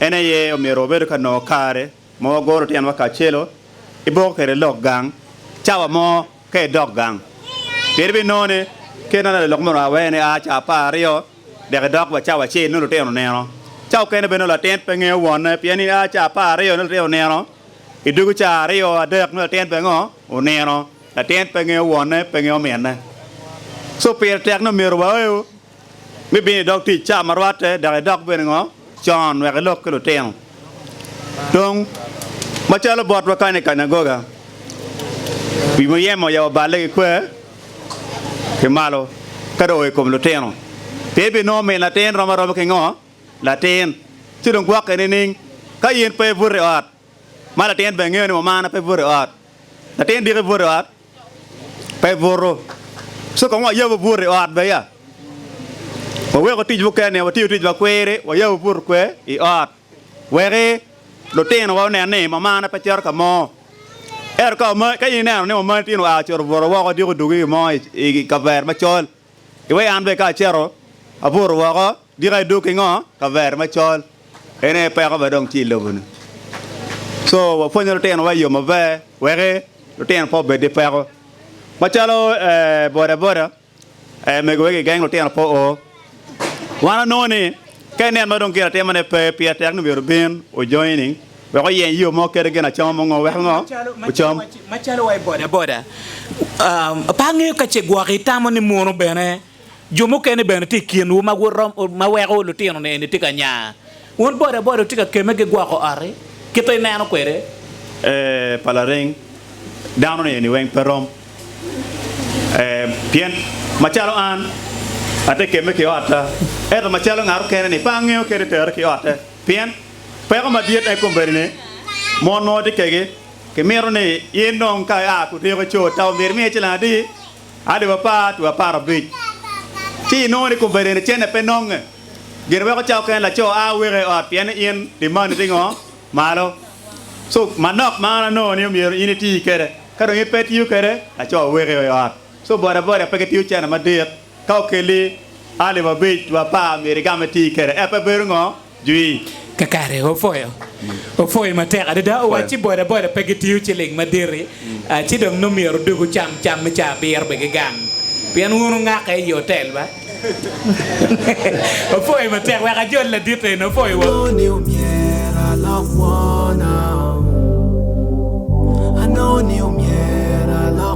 En aye omyero wabedo ka nongo kare ma wagoro tyenwa kacelo i boko kede lok gang cawa mo ka idok gang. Pien ibinongo ni kit ma lalok moni oa wene a cawa apar aryo dek idok wa cawa acel nongo lutino onino. Cawa okene bene nongo latin pe ngeyo wonne pien ni a cawa apar aryo nongo lutino onino, i dwogo cawa aryo adek nongo latin bene ngo? Onino. Latin pe ngeyo wonne, pe ngeyo ominne. So pire tek ni omyero waeu me bino i dog tic ca ma rwatte dok idok bene ngo con wek ilok ki lutino. Dong, macalo botwa kany i kanyagoga, wi muyeme oyabo balle ki kwer ki malo ka dong oo i kom lutino, pien ibinongo min latin rom aroma ki ngo latin, ci dong gwokke nining? Ka in pe ibuto i ot, ma latin bene ngeyo ni mumana pe ibuto i ot, latin diki ibuto i ot. Pe ibutu. Ci kong wayab obut i ot beya. Waweko tic mukene, watiyo tic ma kwiri, wayab obut kwe i ot. Weki lutinowa onen ni mamana pe cito ka mo. Ento ka in ineno ni mamani tin oa ocuto obuto woko, odyeko dwogo ki gin mo i kavere macol, Iwek an bene ka aceto abuto woko dika idog ki ngo kavere macol en aye peko bene dong tye iloboni so wapwonyo lutino wa iyo maber wek lutino pe obed ki peko macalo boda boda mego wek igeng lutino pe oo wan wanongo ni ka ineno madong gin atimane pe pire tek ni myero obin ojoining. Wek oyeny yo mo kede gin acama mo ngo, weko ngo ocam. Macalo wa i bodaboda, pe angeyo ka ce gwok itamo ni munu bene jo mukene bene tye i kinwu ma ma weko lutino-ni eni tye ka nya. Wun bodaboda wutye ka kemme ki gwoko ot-ti kit ma ineno kwede? Ee, pa lareng, dano-ni eni weng pe rom. Ee, pien macalo an atye kemme ki otta, ento macalo ngat okene-ni pe angeyo kede tere ki otte. Pien Peko madit en kombeddi ni mon ma watye kegi kimito ni in dong ka ia ku tyeko co ta omyero imiye cilang adi? Alip apar twe apar abic. Ci inongo ni kombeddi eni cene pe nonge. Gin weko ca oken laco a weko i ot pien ni in dimani tye ngo? Malo. So manok ma an anongo ni omyero in iti kede. Ka dong in pe itiyo kede, laco weko i ot. So boda boda pe ki tiyo cene madit. Ka okelli alip abic wa apar myero igamme tii kede app-pe bedo ngo? Jwii. Kakare opwoyo opwoyo matek adada owaci boda boda pe gitiyo ciling maditi ci dong nongo myero dog ocam cam me caa abiro be gigang pien wun wungake iyi otel ba opwoyo matek wek ajol ladit eni opwoyo wa. Anongo ni omyero alok kwona oh, anongo ni omyero alok.